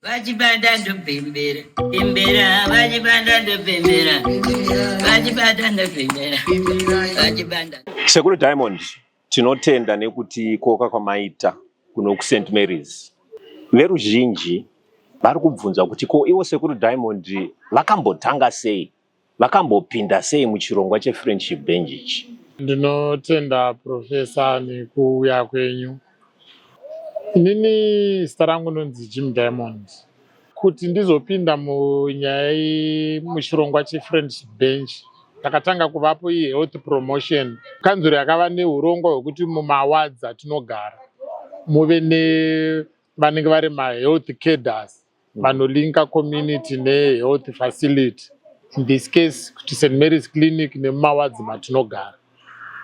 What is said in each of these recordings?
vachibanda ndobembera bembera vachibanda ndobembera vachibanda ndobembera vachibanda sekuru diamond tinotenda nekuti koka kwamaita kuno kuSt Mary's veruzhinji vari kubvunza kuti ko ivo sekuru Diamond vakambotanga sei Vakambopinda sei muchirongwa cheFriendship Bench ichi? Ndinotenda Professor nekuuya kwenyu. Inini zita rangu ndonzi Jim Diamond. Kuti ndizopinda munyaya iyi muchirongwa cheFriendship Bench takatanga kuvapo iyi health promotion. Kanzuru yakava neurongwa hwekuti mumawards atinogara muve nevanenge vari mahealth cadres mm. vanolinka community nehealth facility in this case kuti st marys clinic nemumawadzi matinogara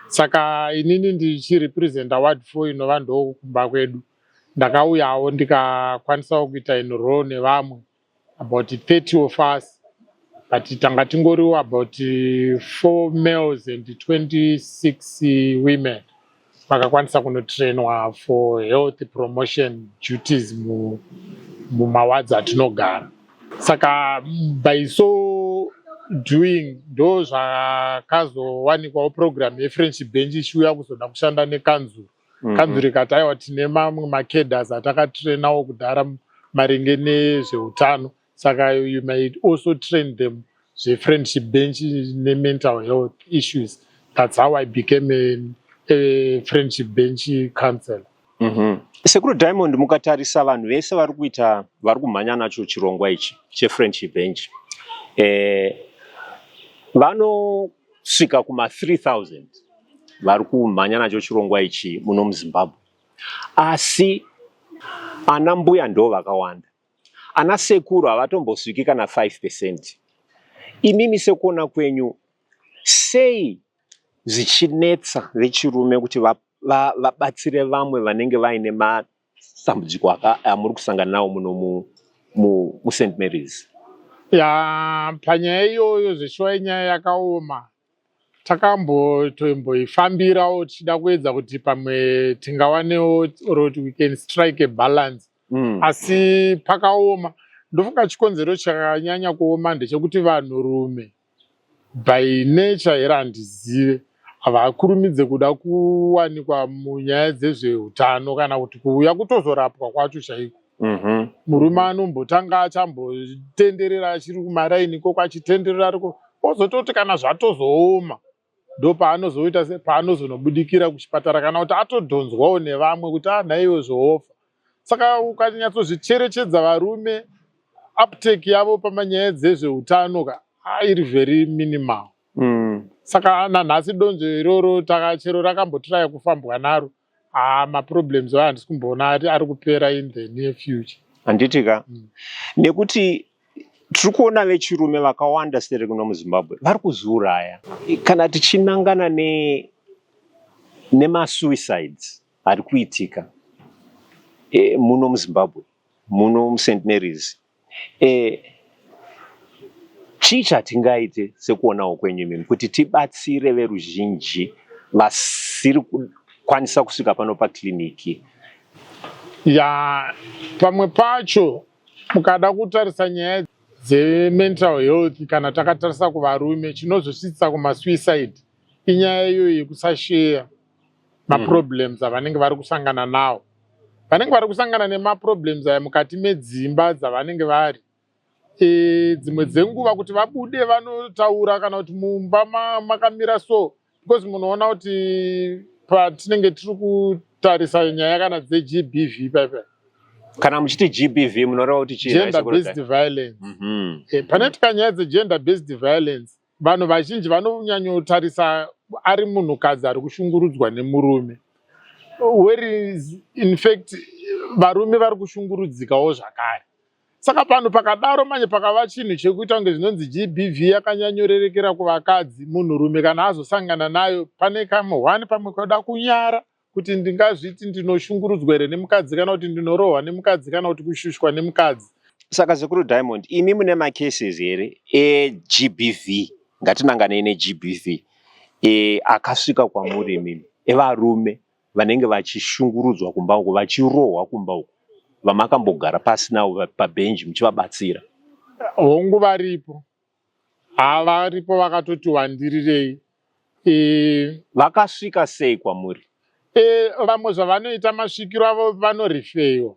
saka inini ndichirepresenta ward four inova ndokumba kwedu ndakauyawo ndikakwanisawo kuita inro nevamwe about 30 of us but tanga tingoriwo about four males and 26 women vakakwanisa kunotrainwa for health promotion duties mumawards atinogara saka by so doing ndo zvakazowanikwawo program yefriendship bench ichiuya kuzoda kushanda nekanzuru mhm. kanzuru ikati aiwa tine mamwe macaders atakatrainawo kudhara maringe nezveutano saka you might also train them zvefriendship bench nemental health issues that's how i became a, a friendship bench councellor mm -hmm. sekuru diamond mukatarisa vanhu vese vari kuita vari kumhanya nacho chirongwa ichi chefriendship bench eh, vanosvika kuma 3000 vari kumhanya nacho chirongwa ichi muno muzimbabwe asi ana mbuya ndo vakawanda Ana sekuru havatombosviki kana 5%. Imimi sekuona kwenyu sei zvichinetsa vechirume kuti vabatsire va, va vamwe vanenge vaine matambudziko amuri kusangana nawo muno mu, mu, mu St Mary's? Ya, panyaya iyoyo zveshuwa inyaya yakaoma takambotoimboifambirawo tichida kuedza kuti pamwe tingawanewo or kuti we can strike a balance mm. asi pakaoma ndofunga chikonzero chakanyanya kuoma ndechekuti vanhu rume by nature here handizive havakurumidze kuda kuwanikwa munyaya dzezveutano kana kuti kuuya kutozorapwa kwacho chaiko mhm. murume anombotanga achambotenderera achiri kumaraini ikoko achitenderera ariko ozototi kana zvatozooma ndo paanozoita se paanozonobudikira kuchipatara kana kuti atodhonzwawo nevamwe kuti anhaiwe ah, zvoofa saka ukanyatsozvicherechedza varume aptake yavo pamanyaya dzezveutano ka ah, iri very minimal mm. saka nanhasi donzvo iroro takachero rakambotiraya kufambwa naro Ah, maproblems aya handisi kumboona ati ari kupera in the near future. handiti ka Mm. nekuti tiri kuona vechirume vakawanda sere kuno muzimbabwe vari kuzviuraya kana tichinangana ne nemasuicides ari kuitika e, muno muzimbabwe muno must marys Eh, chii chatingaite sekuonawo kwenyu imimi kuti tibatsire veruzhinji vasiri kukwanisa kusvika pano pakiriniki? Ya, pamwe pacho mukada kutarisa nyaya dzemental health kana takatarisa kuvarume chinozosvitsisa kumasuicide inyaya iyoyo yekusasheya maproblems mm. avanenge vari kusangana nawo vanenge vari kusangana nemaproblems aya mukati medzimba dzavanenge vari e, dzimwe dzenguva kuti vabude vanotaura kana kuti mumba makamira so because munoona kuti patinenge tiri kutarisa nyaya kana dzegbv paipa kana muchiti gbv munoreva kuti chii gender based violence mm -hmm. e, panoitika nyaya dzegender based violence vanhu vazhinji vanonyanyotarisa ari munhukadzi ari kushungurudzwa nemurume whereas in fact varume vari kushungurudzikawo zvakare saka panhu pakadaro manje pakava chinhu chekuita kunge zvinonzi gbv yakanyanyorerekera kuvakadzi munhurume kana azosangana nayo pane kamwe one pamwe koda kunyara kuti ndingazviti ndinoshungurudzwa here nemukadzi kana kuti ndinorohwa nemukadzi kana kuti kushushwa nemukadzi saka sekuru diamond imi mune macases here egbv ngatinanganei negbv e, akasvika kwamuri imimi evarume vanenge vachishungurudzwa kumba uko vachirohwa kumba uko vamakambogara pasi navo pabhenji muchivabatsira hongu varipo Haa varipo vakatoti wandirirei. Eh, Vakasvika sei kwamuri? eh, vamwe zvavanoita masvikiro avo vanorifeyiwa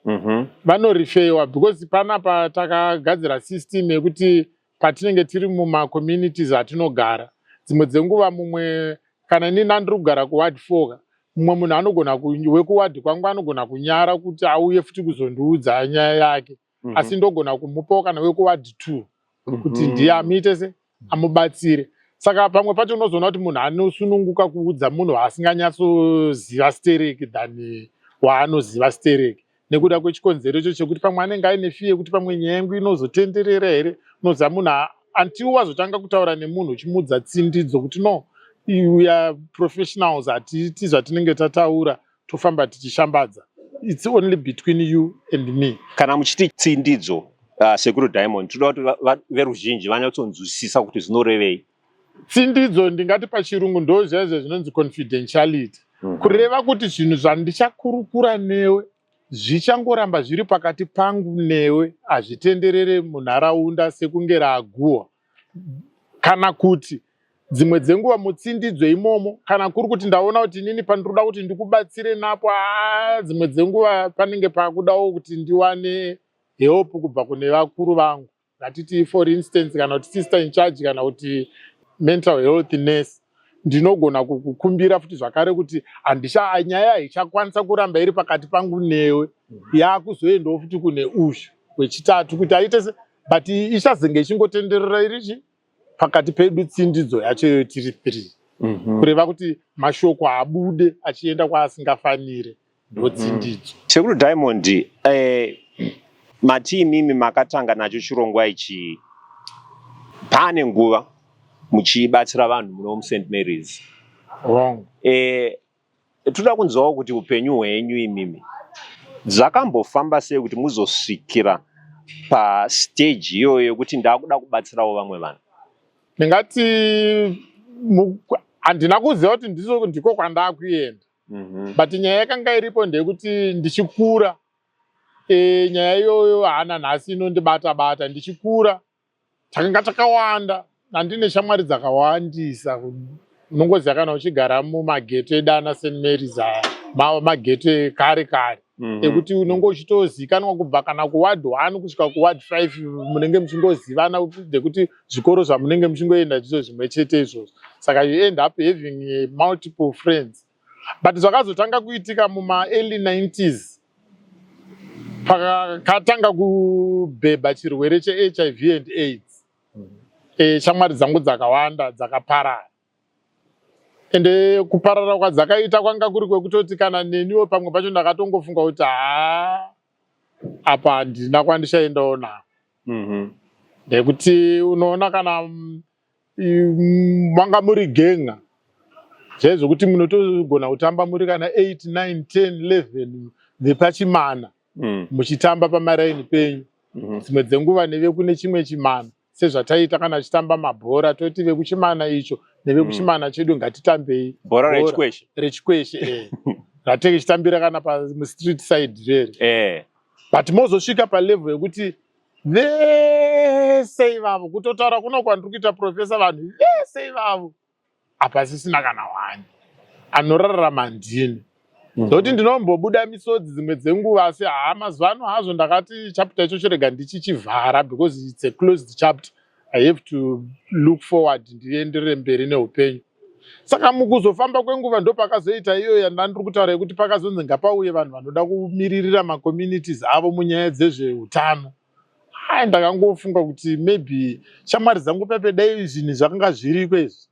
Mhm. vanorifeyiwa because panapa takagadzira system yekuti patinenge tiri mumacommunities atinogara dzimwe dzenguva mumwe kana inini andiri kugara kuward four ka, mumwe munhu anogona ku- wekuward kwangu anogona kunyara kuti auye futi kuzondiudza nyaya yake mm -hmm. asi ndogona kumupawo kana wekuwadi two mm -hmm. kuti mhm. ndiye amuite se amubatsire saka pamwe pacho unozoona kuti munhu anosununguka kuudza munhu waasinganyatsoziva stereki than waanoziva stereki nekuda kwechikonzero icho chekuti pamwe anenge aine fiye yekuti pamwe nyaya yangu inozotenderera here unoziva munhu antiwo wazotanga kutaura nemunhu uchimuudza tsindidzo kuti no uya professionals hatiiti zvatinenge tataura tofamba tichishambadza its only between you and me kana muchiti tsindidzo uh, sekuru diamond tinoda kuti veruzhinji vanyatsonzwisisa kuti zvinorevei tsindidzo ndingati pachirungu ndo zvaizvo zvinonzi confidentiality mm -hmm. kureva kuti zvinhu zvandichakurukura newe zvichangoramba zviri pakati pangu newe hazvitenderere munharaunda sekunge raaguhwa kana kuti dzimwe dzenguva mutsindidzo imomo kana kuri kuti ndaona kuti inini pandinoda kuti ndikubatsire napo aa dzimwe dzenguva panenge pakudawo kuti ndiwane help kubva kune vakuru vangu ngatitii for instance kana kuti sister in charge kana kuti mental health nurse ndinogona kukukumbira futi zvakare kuti handisha nyaya haichakwanisa kuramba iri pakati pangu newe mm-hmm. yakuzoendawo futi kune uzhu wechitatu kuti aite but ichazenge ichingotenderera irichi pakati pedu tsindidzo yacho iyoyo tiri three mm -hmm. kureva kuti mashoko abude achienda kwaasingafanire ndotsindidzo mm -hmm. sekuru diamond eh, mati imimi makatanga nacho chirongwa ichi pane nguva muchibatsira vanhu muno must marys wrong eh, Toda kunzwawo kuti upenyu hwenyu imimi zvakambofamba sei kuti muzosvikira pastage iyoyo yekuti ndakuda kubatsirawo vamwe vanhu. Ndingati handina kuziva kuti ndiko kwandakuenda mm -hmm. but nyaya yakanga iripo ndeyekuti ndichikura e, nyaya iyoyo hana nhasi inondibata bata ndichikura takanga takawanda andine shamwari dzakawandisa unongoziva kana uchigara mumagete eda ana st marys aya magete kare kare mhm. ekuti unenge uchitozikanwa kubva kana kuward one kusvika kuward five munenge muchingozivana dekuti zvikoro zvamunenge muchingoenda ndizo zvimwe chete izvozvo saka you end up having multiple friends but zvakazotanga kuitika mumaearly 90s pakatanga kubhebha chirwere chehiv and aids e, shamwari dzangu dzakawanda dzakaparara ende eh, kuparara kwadzakaita kwanga kuri kwekutoti kana neniwo pamwe pacho ndakatongofunga kuti haa apa handina kwandichaendawo nako mm -hmm. nekuti unoona kana mm, manga muri genga zvaizvokuti munotogona kutamba muri kana 8 9 10 11 vepachimana mm. muchitamba pamaraini penyu mm-hmm. dzimwe dzenguva nevekune chimwe chimana sezvataiita kana tichitamba mabhora toti vekuchimana icho nevekuchimana mm. chedu ngatitambei bhora rechikweshe rechikweshe eh. ratenge chitambira kana pamustreet side rere eh. but mozosvika palevel yekuti vese ivavo kutotaura kuno kwandiri kuita profesa vanhu vese ivavo hapasisina kana wani anorarama ndini mhm. ndokuti ndinombobuda misodzi dzimwe dzenguva asi haa mazuva ano hazvo ndakati chapter icho chirega ndichichivhara because its a closed chapter i have to look forward ndienderere mberi neupenyu Saka mukuzofamba kwenguva ndopakazoita iyo yandandiri kutaura yekuti pakazonzi ngapauye vanhu vanoda kumiririra macommunities avo munyaya dzezveutano ai ndakangofunga kuti maybe shamwari dzangu pepe dai zvinhu zvakanga zviriko izvi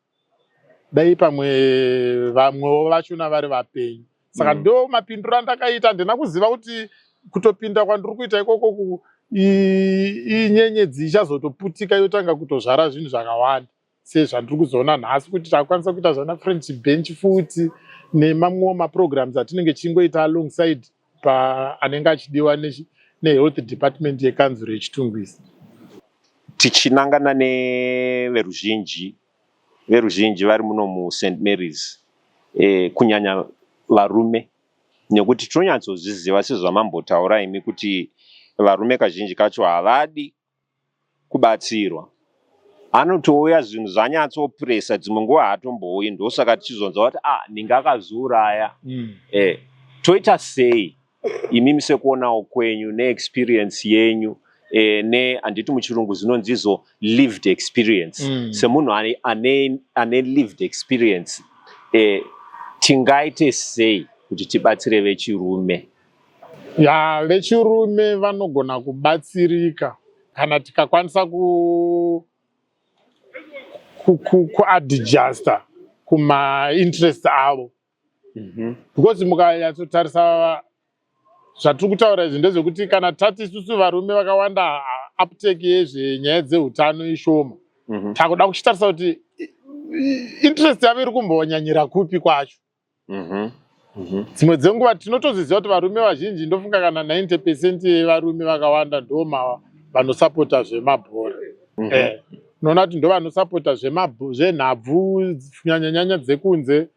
dai pamwe vamwewo vachona vari vapenyu saka mm. ndo mapindiro andakaita handina kuziva kuti kutopinda kwandiri kuita ikoko inyenyedzi ichazotoputika yotanga kutozvara zvinhu zvakawanda sezvandiri kuzoona nhasi kuti takwanisa kuita zvana french bench futi nemamwewo maprograms atinenge tichingoita alongside paanenge achidiwa nehealth department yekanzuro yechitungwisi tichinangana neveruzhinji veruzhinji vari muno must marys e, kunyanya varume nekuti tinonyatsozviziva sezvamambotaura imi kuti varume kazhinji kacho havadi kubatsirwa anotouya zvinhu zvanyatsopressa dzimwe nguva haatombouyi ndosaka tichizonzwa kuti ah ninge akazviuraya mm. eh, toita sei imimi sekuonawo kwenyu neexperience yenyu eh, ne handiti muchirungu zvinonzizo lived experience mm. semunhu ane, ane, ane lived experience eh, tingaite sei kuti tibatsire vechirume Ya vechirume vanogona kubatsirika kana tikakwanisa ku kuadjusta ku, ku kumainterest avo mm -hmm. because mukanyatsotarisa zvatiri kutaura izvi ndezvekuti kana tati isusu varume vakawanda apteki yezvenyaya dzeutano ishoma mm -hmm. takuda kuchitarisa kuti interest yavo iri kumbonyanyira kupi kwacho mhm, mhm. dzimwe mm -hmm. dzenguva tinotozviziva kuti varume vazhinji ndofunga kana 90 percent yevarume vakawanda ndoma vanosapota zvemabhora mm -hmm. eh, unoona kuti ndo vanosapota zvenhabvu nyanyanyanya dzekunze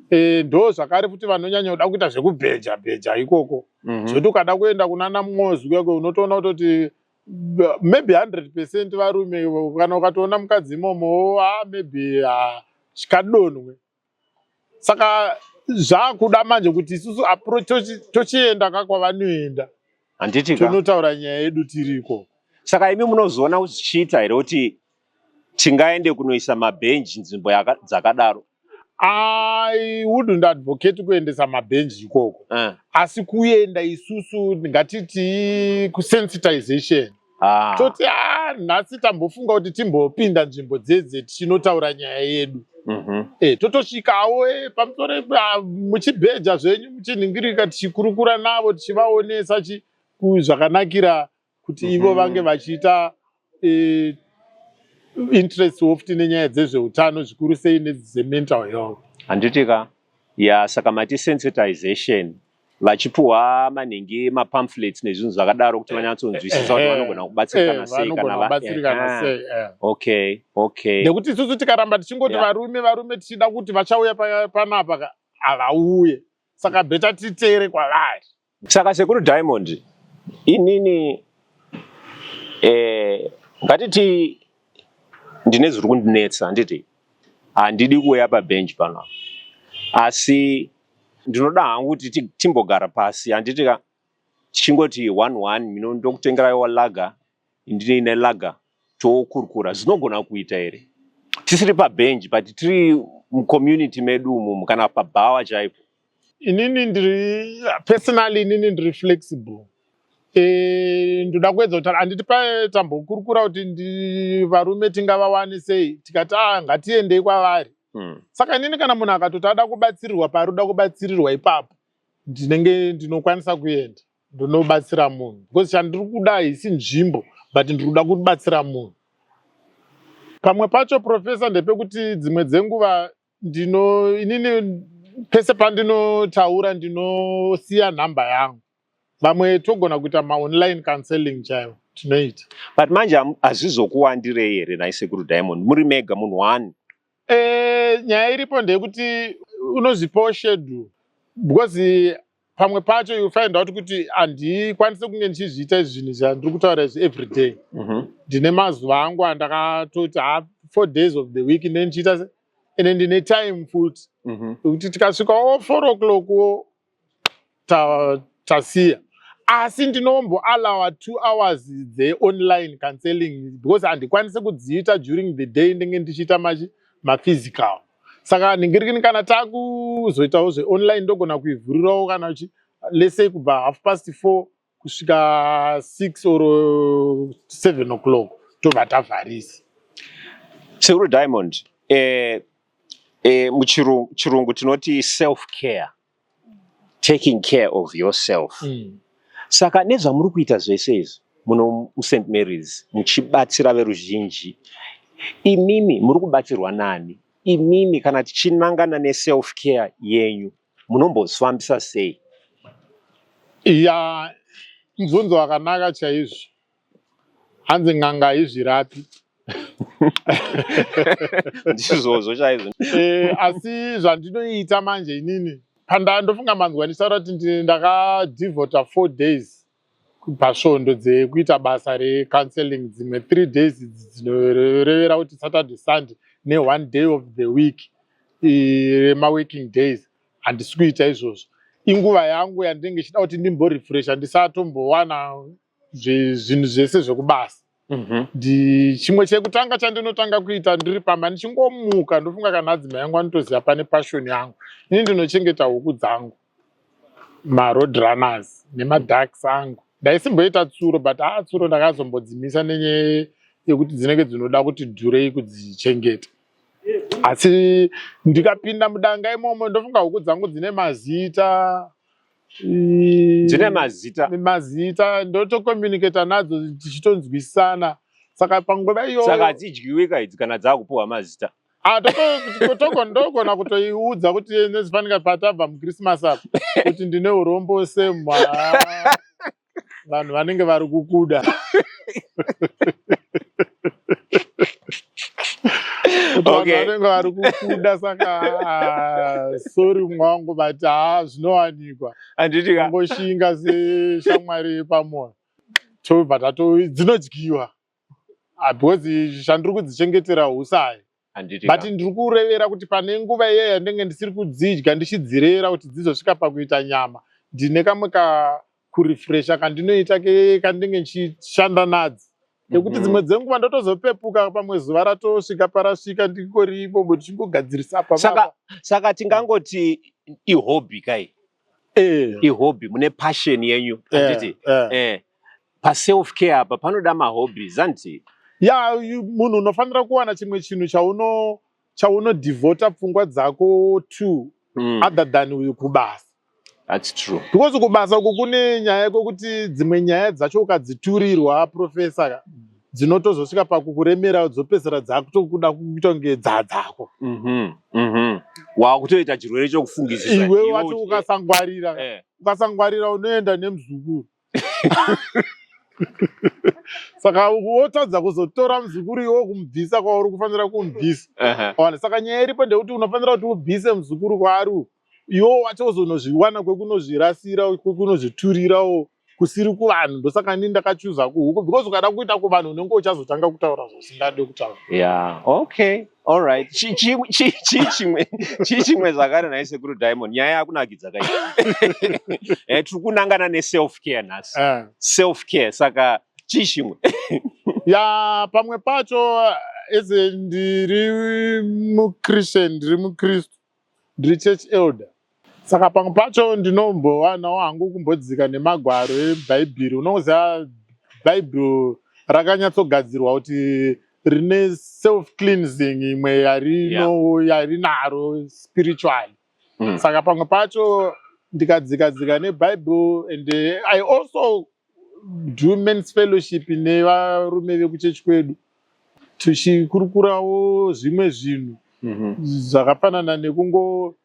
eh, ndo zvakare futi vanonyanya kuda kuita zvekubheja bheja ikoko mm -hmm. zvoti ukada kuenda kunana mwozi kuyako unotoona kutoti maybe 100 percent varume kana ukatoona mukadzi imomo ah, maybe ah, chikadonwe saka zvakuda manje kuti isusu tochienda ka kwavanoenda handiti tonotaura nyaya yedu tiriko saka imi munozoona kuti zvichiita here kuti tingaende kunoisa mabhenji nzvimbo dzakadaro i wouldn't advocate kuendesa mabhenji ikoko uh. asi kuenda isusu ngatiti kusensitization Ah. toti ah, nhasi tambofunga kuti timbopinda nzvimbo dzedze tichinotaura nyaya yedu mhm. e, totosvikawo e, pamusoro ah, muchibheja zvenyu muchinhingirika tichikurukura navo tichivaonesa zvakanakira kuti mhm. ivo vange vachiita e, interest ofti nenyaya dzezveutano zvikuru sei nedzemental health handiti ka ya saka mati sensitization vachipuhwa manhingi mapamphlets nezvinhu zvakadaro kuti vanyatsonzwisisa kuti vanogona kubatsirikana sei kana sei okay okay nekuti isusu tikaramba tichingoti varume varume tichida kuti vachauya panapa havauye saka beta titere kwavari saka sekuru diamond inini eh, ngatiti ndine zviri kundinetsa handiti handidi kuuya pabench pano asi ndinoda hangu kuti timbogara pasi handiti ka tichingoti one one mino ndokutengeraiwa laga ndine laga tokurukura zinogona kuita here tisiri pabench but tiri mucommunity medu umomu kana pabhawa chaipo inini ndiri personally inini ndiri flexible e, ndoda kuedza kuti handiti patambokurukura kuti varume tingavawane sei tikati a ah, ngatiendei kwavari hmm. saka inini kana munhu akatoti ada kubatsirirwa paari uda kubatsirirwa ipapo ndinenge ndinokwanisa kuenda ndonobatsira munhu because chandiri kuda haisi nzvimbo but ndiri kuda kubatsira munhu pamwe pacho profesa ndepekuti dzimwe dzenguva ndino inini pese pandinotaura ndinosiya nhamba yangu vamwe togona kuita maonline counseling chaivo tinoita but manje hazvizokuwandirei here nhai sekuru diamond muri mega munhu one e, nyaya iripo ndeyekuti unozvipawo shedule because pamwe pacho you find out kuti handikwanise kunge ndichizviita izvi zvinhu zvandiri kutaura izvi every day mhm. ndine mazuva angu andakatoti ha four days of the week ne ndichiita se ende ndine time futi mhm. kuti tikasvika o four o'clock wo tasiya asi ndinombo allowa two hours the online counseling because handikwanise kudziita during the day ndenge ndichiita maphysical saka nhingirini kana takuzoitawo zveonline ndogona kuivhurirawo kana uchi lesei kubva half past four kusvika six or seven o'clock tobva tavharisi seuro diamond eh, eh, muchirungu tinoti self care taking care of yourself mm. saka nezvamuri kuita zvese izvi muno must marys muchibatsira veruzhinji imimi muri kubatsirwa nani imimi kana tichinangana neself care yenyu munombozvifambisa sei ya mubvunzo wakanaka chaizvo hanzi n'anga haizvirapi ndizvozvo chaizvo eh, asi zvandinoita manje inini pandaa ndofunga manzwa ndichitaura kuti ndakadevota four days pasvondo dzekuita basa recounseling dzimwe three days idzi dzinorevera kuti saturday sunday neone day of the week remaworking days handisi kuita izvozvo inguva yangu yandinenge ichida kuti ndimborefresha ndisatombowana zvinhu zvese zvekubasa mhm. ndichimwe chekutanga chandinotanga kuita ndiri pamba ndichingomuka ndofunga kana adzima yangu anotoziva pane pashoni yangu ini ndinochengeta huku dzangu maroad runners nemadarks angu ndaisimboita tsuro but haa ah, tsuro ndakazombodzimisa nenyaya yekuti dzinenge dzinoda kuti dhurei kudzichengeta asi ndikapinda mudanga imomo ndofunga huku dzangu dzine mazita dzine mazita mazita ndotocommunicata nadzo tichitonzwisisana saka panguva iyoyo saka hadzidywiwika idzi kana dzaakupiwa mazita ah, togondogona kutoiudza kuti nezvifanika patabva muchristmas apa kuti ndine urombo semwa vanhu vanenge vari kukuda vanenge vari kukuda saka ah, sori mwangu but haa ah, zvinowanikwa anditiangoshinga seshamwari yepamoyo tobva tato dzinodyiwa ah, because chandiri kudzichengetera husayi but ndiri kurevera kuti pane nguva iye yandenge ndisiri kudzidya ndichidzirera kuti dzizosvika pakuita nyama ndine kamwe kakurefresha kandinoita kandenge ndichishanda nadzi nekuti mhm. dzimwe dzenguva ndotozopepuka pamwe zuva ratosvika parasvika ndingoripo ndichingogadzirisa pasaka saka tingangoti ihobby kai eh. ihobby mune passion yenyu eh, handiti eh. eh. paself care apa panoda mahobbies handiti ya munhu unofanira kuwana chimwe chinhu chauno chaunodivhota pfungwa dzako two mm. other than uyu kubasa That's true. Because kubasa uko kune nyaya yekuti dzimwe nyaya dzacho ukadziturirwa professor dzinotozosvika pakukuremera dzopedzisira dzakutokuda kuita kunge dzadzako mhm, mhm. wakutoita chirwere chokufungisisa iwe wati ukasangwarira eh. ukasangwarira unoenda nemuzukuru saka wotadza kuzotora muzukuru iwe kumubvisa kwauri kufanira kumubvisa ona saka nyaya iripo ndekuti unofanira kuti ubvise muzukuru kwaari iwo wacho uzonozviwana kwekunozvirasira kwekunozviturirawo kusiri kuvanhu ndosaka ini ndakachuza kuhuku because ukada kuita kuvanhu unenge uchazotanga kutaura zvasingade kutaura yeah okay all right chii chimwe chii chimwe zvakare nhai sekuru diamond nyaya yakunakidza kai eh, tiri kunangana neself care nhasi eh. self care saka chii chimwe ya pamwe pacho ese ndiri muchristian ndiri mukristu ndiri church elder saka pamwe pacho ndinombowanawo hangu kumbodzika nemagwaro ebhaibheri unongoziva bhaibheri rakanyatsogadzirwa kuti rine self cleansing imwe yarino yarinaro spiritually mm. saka pamwe pacho ndikadzikadzika nebhaibheri and i also womens fellowship nevarume vekuchechi kwedu tichikurukurawo zvimwe zvinhu mhm. zvakafanana nekungo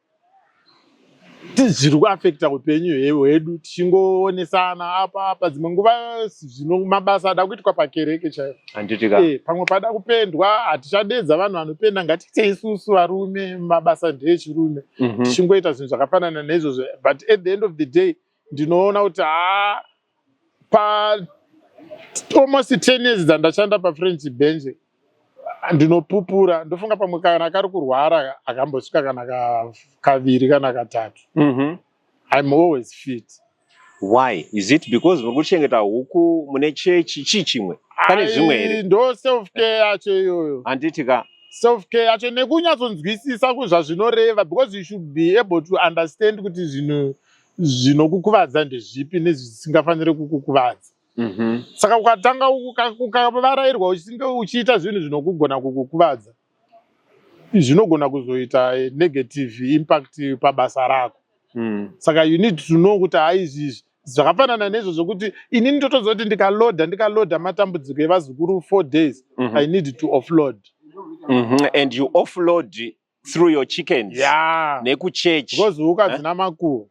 zviri kuafekta upenyu hwedu tichingoonesana apa apa dzimwe nguva zvino mabasa ada kuitwa pakereke chaiyo eh, pamwe pada kupendwa hatichadedza vanhu vanopenda ngatiite isusu varume mabasa ndeechirume mhm. tichingoita zvinhu zvakafanana neizvozvo but at the end of the day ndinoona kuti haa pa almost ten years dzandashanda pafrench bench ndinopupura ndofunga pamwe kana kari kurwara akambosvika kana kaviri kana katatu mm -hmm. im always fit why is it because muri kuchengeta huku mune chechi chii chimwe pane zvimwe here ndo self care yacho iyoyo handiti ka self care yacho nekunyatsonzwisisa kuzvazvinoreva because you should be able to understand kuti zvinhu zvinokukuvadza ndezvipi nezvisingafanire kukukuvadza mhm. saka ukatanga ukavarairwa uchinge uchiita zvinhu zvinokugona kukukuvadza zvinogona kuzoita negative impact pabasa rako mm. saka you need to know kuti haizvizvi zvakafanana nezvo zvokuti ini ndotoziva kuti ndikaloda ndikaloda matambudziko evazukuru four days mm -hmm. i need to offload mm -hmm. and you offload through your chickens yeah. nekuchurch because huka eh? dzina makuru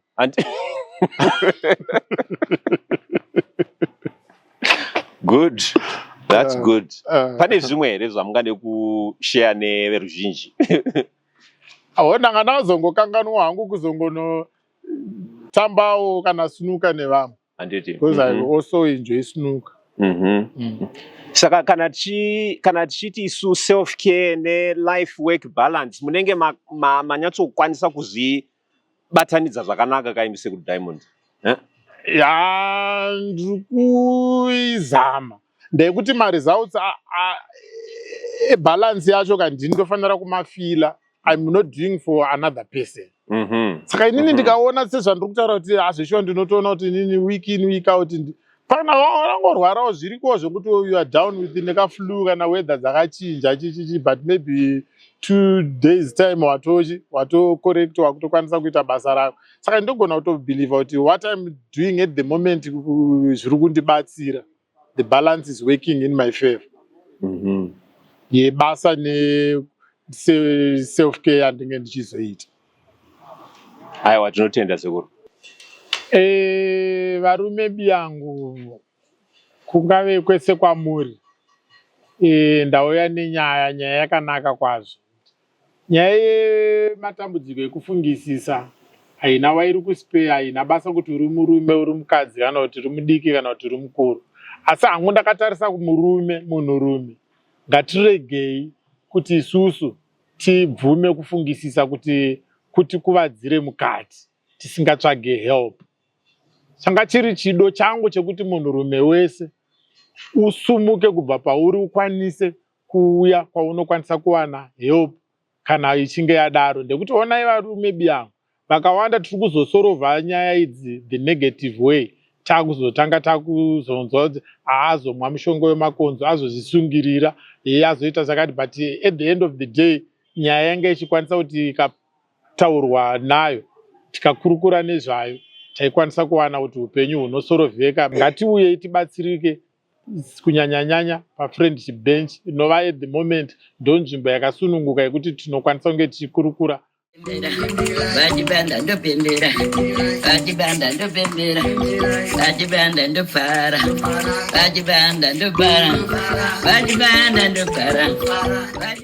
good that's uh, good uh, pane zvimwe here zvamungade kushare neveruzhinji aho ndanga ndazongokanganwa hangu kuzongonotambawo kana sunuka nevamwe handiti because mm -hmm. i also enjoy snooker mm -hmm. mm. saka kana tichi kana tichiti isu self care ne life work balance munenge manyatsokwanisa ma, ma kuzvibatanidza zvakanaka kaimi sekuti diamond eh? ya ndiri kuizama ndeyekuti maresults ebalance yacho ka ndini ndofanira kumafila im not doing for another person mhm. saka inini mhm. ndikaona sezvandiri kutaura kuti hazvishuwa ndinotoona kuti inini week in week out kana wangorwarawo zvirikowo zvekuti you are down with nekaflu kana weather dzakachinja chichichi but maybe two days time watochi watocorrect wakutokwanisa kuita basa rako saka ndogona kutobelieve kuti what im doing at the moment zviri kundibatsira the balance is working in my favor mm -hmm. yebasa neself care yandinge ndichizoita aiwa tinotenda sekuru e, varume biyangu kungave kwese kwamuri e, ndauya nenyaya nyaya yakanaka kwazvo Nyaya yematambudziko ekufungisisa haina wairi kuspeya, haina basa kuti uri murume, uri mukadzi kana kuti uri mudiki kana kuti uri mukuru. Asi hangu ndakatarisa kumurume, munhurume, ngatiregei kuti isusu tibvume kufungisisa kuti kuti kuvadzire mukati tisingatsvage help. Changa chiri chido changu chekuti munhurume wese usumuke kubva pauri ukwanise kuuya kwaunokwanisa kuwana help kana ichinge yadaro ndekuti onai varume biyangu vakawanda tiri kuzosorova nyaya idzi the negative way takuzotanga takuzonzwa kuti aazomwa mushonga wemakonzo azozvisungirira iye azoita zvakati but at the end of the day nyaya yanga ichikwanisa kuti ikataurwa nayo tikakurukura nezvayo taikwanisa kuwana kuti upenyu hunosorovheka ngatiuyei tibatsirike kunyanyanyanya pafriendship bench inova at the moment ndo nzvimbo yakasununguka yekuti tinokwanisa kunge tichikurukura vachibanda ndopembera vachibanda ndopembera vachibanda ndopfara vachibanda ndopara vachibanda ndopara